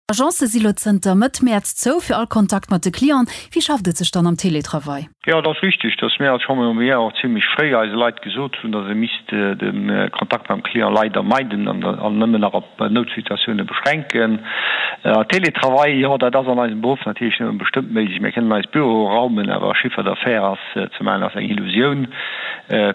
D'Agencë si lo zënter Mëtt Mäerz zou fir all Kontakt mat de Clienten. Wéi schafft et sech dann am Télétravail? Jo, et ass richteg, dass mir als Chambre Immobilière och zimmlech fréi eise Leit gesot hunn, dass ee misst de Kontakt mam Client leider meiden an nëmmen nach op Noutsituatioune beschränken. Télétravail, jo, dat ass an eisem Beruff natierlech nëmme bestëmmt méiglech. Mir kënnen eis Büroe raumen, awer Chiffre d'affaires ass. ze maachen ass eng Illusioun.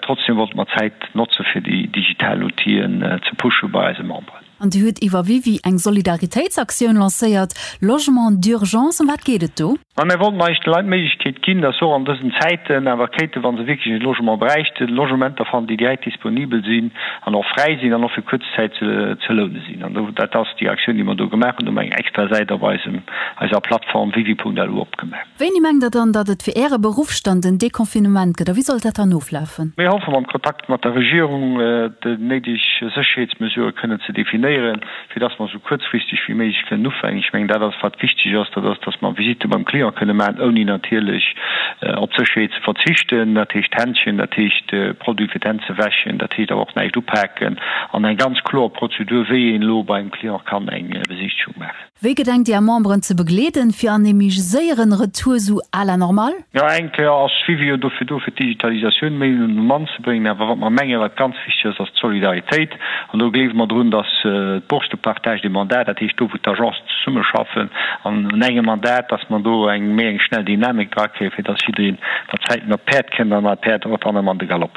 Trotzdem wollte mer d'Zäit notze fir déi digital Outien ze pushe bei eise Memberen. An Dir hutt iwwer WiWi eng Solidaritéitsaktioun lancéiert, Logement d'urgence. Ëm wat geet et do? Ma mär wollten eigentlech de Leit d'Méiglechkeet ginn, dass se och an dësen Zäiten awer kéinten, wa se wierklech e Logement bräichten, Logementer fannen, déi direkt disponibel sinn an och fräi sinn an och fir kuerz Zäit ze loune sinn. Dat ass déi Aktioun, déi mer do gemaach hunn. Do hu mer eng extra Säit op eisem, eiser Plattform wiwi.lu opgemaach. Wéini mengt Der dann, datt et fir Äre Beruff dann den Deconfinement gëtt a wéi sollt dat dann oflafen? Mir hoffe mam Kontakt mat der Regierung déi néideg Sécherheetsmesurë kënnen ze definéieren, fir datt mer esou kuerzfristeg wéi méiglech kënnen ufänken. Ech mengen dat ass wat wichteg ass, dat ass, datt mer Visitte beim Client kënne maachen, ouni natierlech op d'Sécherheet ze verzichten, dat heescht Händschen, dat heescht Produit fir d'Hänn. wäschen, dat heescht awer och näischt upaken, an eng ganz kloer Prozedur, wéi een elo beim Client kann eng Besichtegung maachen. Wéi gedenkt Dir Är Memberen ze begleeden, fir an ee méi séieren Retour sou à la normale? Jo, eng Kéier ass Suivi jo dofir do, fir d'Digitalisatioun méi un de Mann ze bréngen. Awer wat mer menge wat ganz wichteg ass, ass d'Solidaritéit. An do gleewe mer drun, datt d'Bourse de partage des mandats, dat heescht do wou d'Agencen zesummeschaffen an un engem Mandat, datt mer do eng méi eng schnell Dynamik drakréien, fir datt jiddereen mat Zäiten op d'Päerd kënnt an dat Päerd och dann ëm an de Galopp.